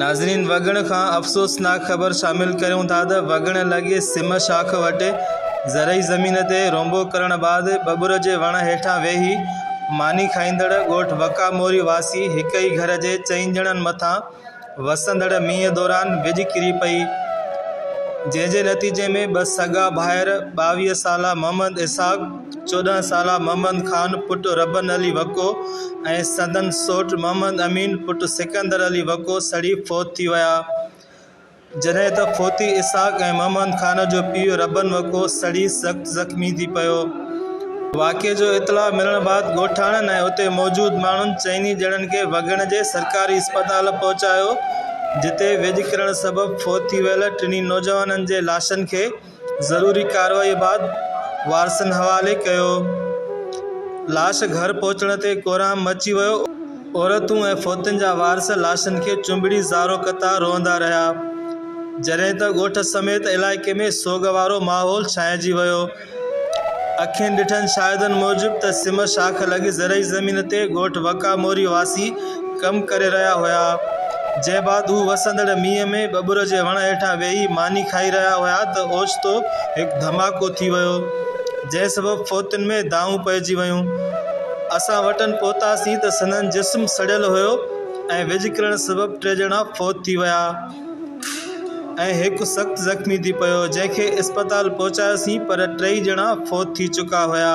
ناظرين وڳڻ کان افسوسناڪ خبر شامل ڪريون ٿا ته وڳڻ لڳي سم شاخ وٽ زرعي زمين تي رونبو ڪرڻ بعد ٻٻر جي وڻ هيٺان ويهي ماني کائيندڙ ڳوٺ وڪا موري واسي هڪ ئي گهر جي چئن ڄڻن مٿان وسندڙ مينهن دوران وڄ ڪري پئي جنهن جي نتيجي ۾ ٻه سڳا ڀائر ٻاويهه سالا محمد اسحاق چوڏهن سالا محمد خان پٽ ربن علي وڪو ۽ سندن سوٽ محمد امين پٽ سڪندر علي وڪو سڙي فوت ٿي ويا. جڏهن ته فوتي اسحاق ۽ محمد خان جو پيء ربن وڪو سڙي سخت زخمي ٿي پيو. واقعي جو اطلاع ملڻ بعد ڳوٺاڻن ۽ اتي موجود ماڻهن چئني ڄڻن کي وڳڻ جي سرڪاري اسپتال پهچايو جتي ويڄ ڪرڻ سبب فوت ٿي ويل ٽنهي نوجوانن جي لاشن کي ضروري ڪارروائي بعد وارثن حوالي ڪيو. لاش گهر پهچڻ تي ڪورهام مچي ويو. عورتون ۽ فوتين جا وارث لاشن کي چنبڙي زارو قطار روئندا رهيا. جڏهن ته ڳوٺ سميت علائقي ۾ سوڳ وارو ماحول ڇانئجي ويو. اکين ڏٺن شاهدن موجب ته سم شاخ لڳي زرعي زمين تي ڳوٺ وڪا موري واسي ڪم ڪري رهيا هيا، جنهن بعد هو وسندڙ مينهن ۾ ٻٻر جي وڻ هيٺان ويهي ماني کائي رهيا هيا ته اوچتو هڪ ڌماڪو ٿي ويو، جنهن سبب فوتين ۾ دانهون پئجي ويون. اسان وٽن پهتاسين ته سندن جسم سڙيل هيو ۽ ويڄ ڪرڻ سبب ٽي ڄڻا فوت ٿي ويا ۽ هڪ سخت زخمي ٿي پيو، جنهن کي اسپتال پهچايوسين پر ٽيئي ڄڻا فوت ٿي چڪا هيا.